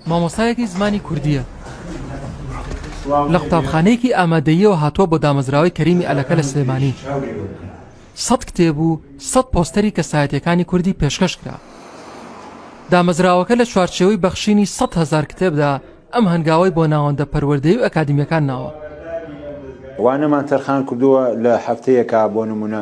مامۆستایەکی زمانی کوردییە لە قوتابخانەیەکی ئامادەییەوە هاتووە بۆ دامەزراوەی کەریمی ئەلەکە لە سلێمانی سەد کتێب و سەد پۆستەری کەسایەتەکانی کوردی پێشکەش کرا دامەزراوەکە لە چوارچێوەی بەخشینی 100 هزار کتێبدا ئەم هەنگاوی بۆ ناوەندە پەروەردەی و ئەکادمیەکان ناوە. وانەمان تەرخان کردووە لە هەفتەیەکا بۆ نمونە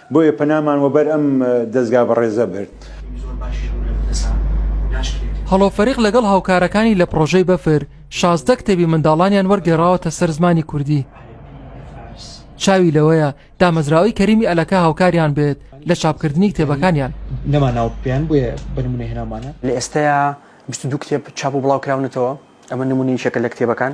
بۆیە پەنامان وەبەر ئەم دەزگا بەڕێزە برد. هەڵۆ فەریق لەگەڵ هاوکارەکانی لە پڕۆژەی بەفر شازدە کتێبی منداڵانیان وەرگێڕاوەتە سەر زمانی کوردی. چاوی لەوەیە دامەزراوەی کەریمی ئەلەکە هاوکاریان بێت لە چاپکردنی کتێبەکانیان. لە ئێستەیا بیست و دوو کتێب چاپ و بڵاوکراونەتەوە، ئەمە نموونەی یەکێکە لە کتێبەکان.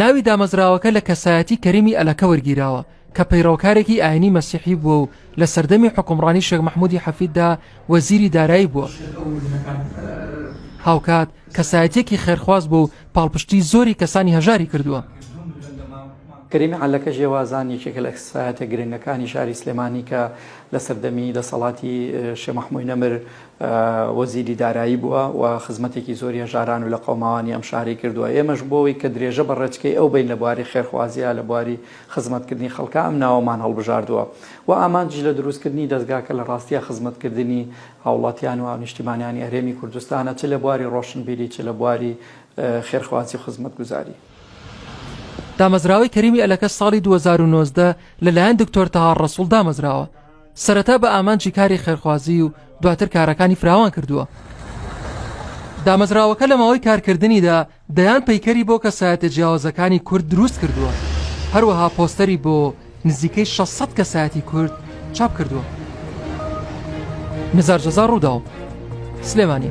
ناوی دامەزراوەکە لە کەسایەتی کەریمی ئەلەکە وەرگیراوە کە پەیڕەوکارێکی ئاینی مەسیحی بووە و لە سەردەمی حکومڕانی شێخ مەحمودی حەفیددا وەزیری دارایی بووە هاوکات کەسایەتێکی خێرخواز بوو و پاڵپشتی زۆری کەسانی هەژاری کردووە. کەریمی عەلەکە ژێوازان یەکێکە لە کەسایەتە گرنگەکانی شاری سلێمانی کە لە سەردەمی دەسەڵاتی شێخ مەحموی نەمر وەزیری دارایی بووە و خزمەتێکی زۆری هەژاران و لەقەوماوانی ئەم شارەی کردووە، ئێمەش بۆ ئەوەی کە درێژە بە ڕێچکەی ئەو بەین لە بواری خێرخوازیا لە بواری خزمەتکردنی خەڵکا ئەم ناوەمان هەڵبژاردووە و ئامانجیش لە دروستکردنی دەزگاکە لە ڕاستیا خزمەتکردنی هاوڵاتیان و هاونیشتیمانیانی هەرێمی کوردستانە چ لە بواری ڕۆشنبیری چ لە بواری خێرخوازی و خزمەتگوزاری. دامەزراوەی کەریمی ئەلەکەس ساڵی دوو هەزار و نۆزدە لەلایەن دکتۆر تەها ڕەسوڵ دامەزراوە، سەرەتا بە ئامانجی کاری خێرخوازی و دواتر کارەکانی فراوان کردووە. دامەزراوەکە لە ماوەی کارکردنیدا دەیان پەیکەری بۆ کەسایەتە جیاوازەکانی کورد دروست کردووە هەروەها پۆستەری بۆ نزیکەی 600 کەسایەتی کورد چاپ کردووە نزار جەزا ڕووداو سلێمانی